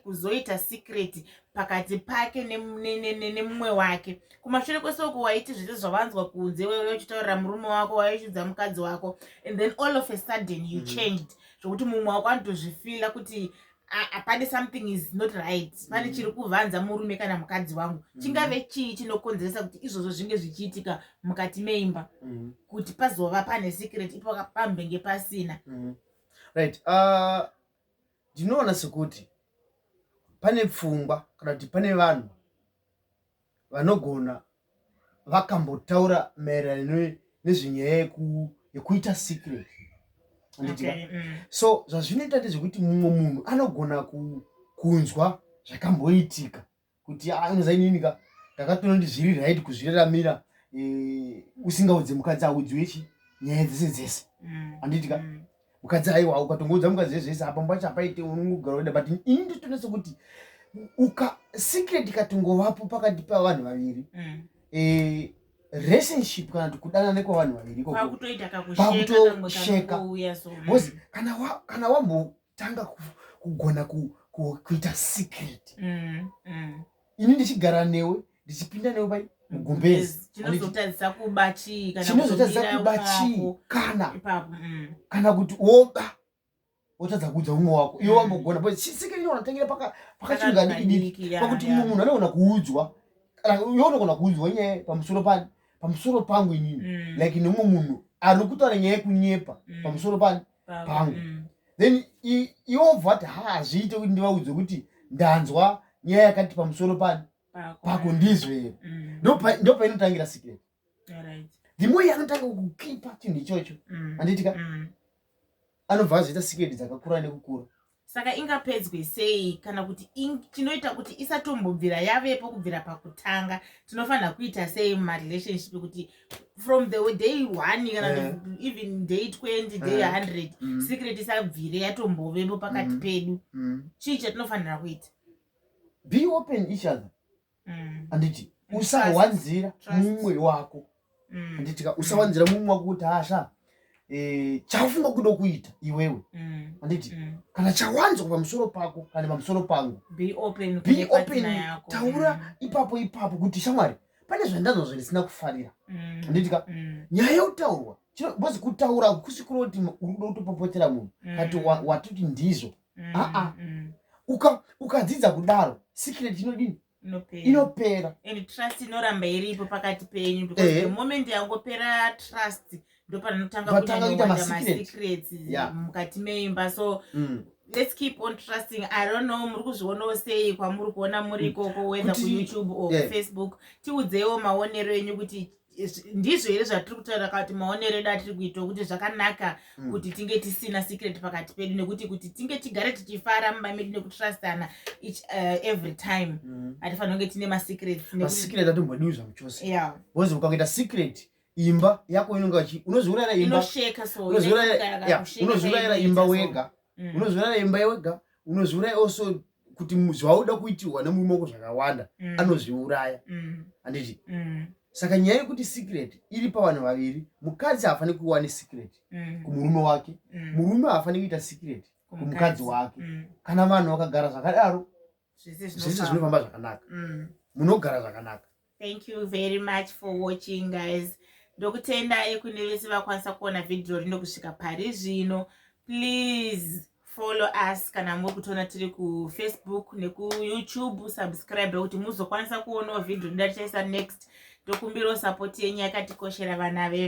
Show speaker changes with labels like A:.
A: kuzoita secret pakati pake nemumwe wake kumashure kwese uko waiti zvese zvavanzwa kunze wewe uchitaurira murume wako waichidza mukadzi wako and then all of a sudden you mm. changed zvokuti mumwe wako anotozvifila kuti pane something is not right pane mm. chiri kuvanza murume kana mukadzi wangu mm. chingave chii chinokonzeresa kuti izvozvo zvinge zvichiitika mukati meimba mm. kuti pazova pane secret ipo pambenge pasina right uh, Ndinoona sekuti pane pfungwa kana kuti pane vanhu vanogona vakambotaura maererano nezvenyaya yekuita secret andidika okay, mm. so zvazvinoita ndezvekuti mumwe munhu anogona kunzwa zvakamboitika kuti anoza inini ka ndakatonondizvirira haidi kuzviraramira eh, usingaudze mukadzi audziwe chi nyaya dzese dzese Mm. handiti ka Mm. mukadzi aiwa ukatongoudza mukadzi zvese zvese apa mbacho apaite unongogara weda but ini ndotonasa kuti uka secret ikatongovapo pakati pavanhu vaviri Mm. eh, relationship kana kuti kudanana kwevanhu vaviri ikoko kwakutoita Kwakutosheka. kakusheka kamwe kakuuya so mm. Boss, kana wa- kana wambo tanga kugona kuita secret mm, mm. ini ndichigara newe ndichipinda newe pai mugumbezichinozotadzisa kuba chii kana mm. kana kuti woba wotadza kuudza umwe wako iwe wambogona but secret inoona tangira pakachingadiidiki pakuti mumwe munhu anogona kuudzwa iwe unogona kuudzwa nyaya pamusoro pani pamusoro pangu inini like nemumwe munhu ari kutaura nyaya yekunyepa pamusoro pani pangu mm. then iobva ati ha hazviite kuti ndivaudze kuti ndanzwa nyaya yakati pamusoro pani pako ndizvee mm. ndopainotangira secret ndimoyi anotanga kukipa chinhu ichocho mm. anditika mm. anobva azoita secret dzakakura nekukura saka ingapedzwe sei kana kuti chinoita kuti isatombobvira yavepo kubvira pakutanga tinofanira kuita sei mumarelationship kuti from the day one kana yeah. even day 20 day yeah. 100 mm. secret isabvire yatombovepo pakati mm. pedu mm. chii chatinofanira kuita be open each other mm. anditi usawanzira mumwe wako mm. anditi ka mm. usawanzira mumwe wako kuti asha eh, chaufunga kuda kuita iwewe anditi kana chawanzwa pamusoro pako kana pamusoro pangu be open taura ipapo ipapo kuti shamwari pane zvandanzwa zvandisina kufarira anditi ka nyaya yotaurwa bcoz kutaura kusikuroti uri kuda kutopopotera munhu kati watoti ndizvo mm, aa mm. uka ukadzidza kudaro secret inodini inopera and trust inoramba iripo pakati penyu because eh. the moment yangopera trust ndopanotanga kuita masecrets yeah. mukati meimba so mm let's keep on trusting i don't know muri kuzvionawo sei kwamuri kuona muri mm. ikoko whether kuyoutube or yeah. facebook tiudzeiwo maonero enyu kuti ndizvo here zvatiri kutaura kati maonero edu atiri kuitwa kuti zvakanaka mm. kuti tinge tisina secret pakati pedu nekuti kuti tinge tigare tichifara mumba medu nekutrustana each uh, every time mm. hatifanira kunge tine masecretsmasecret atombodiwi zvamuchose yeah. bcause ukakuita secret imba yako inonge vachi unozviurayira imbaunozviurayira imba wega mm. unozviurayira imba wega unozviurayira also kuti zvauda kuitirwa nemurume wako zvakawanda mm. anozviuraya mm. handiti mm. saka nyaya yekuti secret iri pavanhu vaviri mukadzi haafaniri kuva nesecret mm. kumurume wake mm. murume haafaniri kuita secret kumukadzi wake mm. kana vanhu vakagara zvakadaro zvese zvinofamba zvakanaka mm. munogara zvakanaka thank you very much for watching guys ndokutendai kune vese vakwanisa kuona vhidhiyo rino kusvika pari zvino please follow us kana muri kutoona tiri kufacebook nekuyoutube subscribe kuti muzokwanisa kuonawo vhidhiyo rinoda tichaisa next ndokumbirawo sapoti yenyu yakatikoshera vana vevhu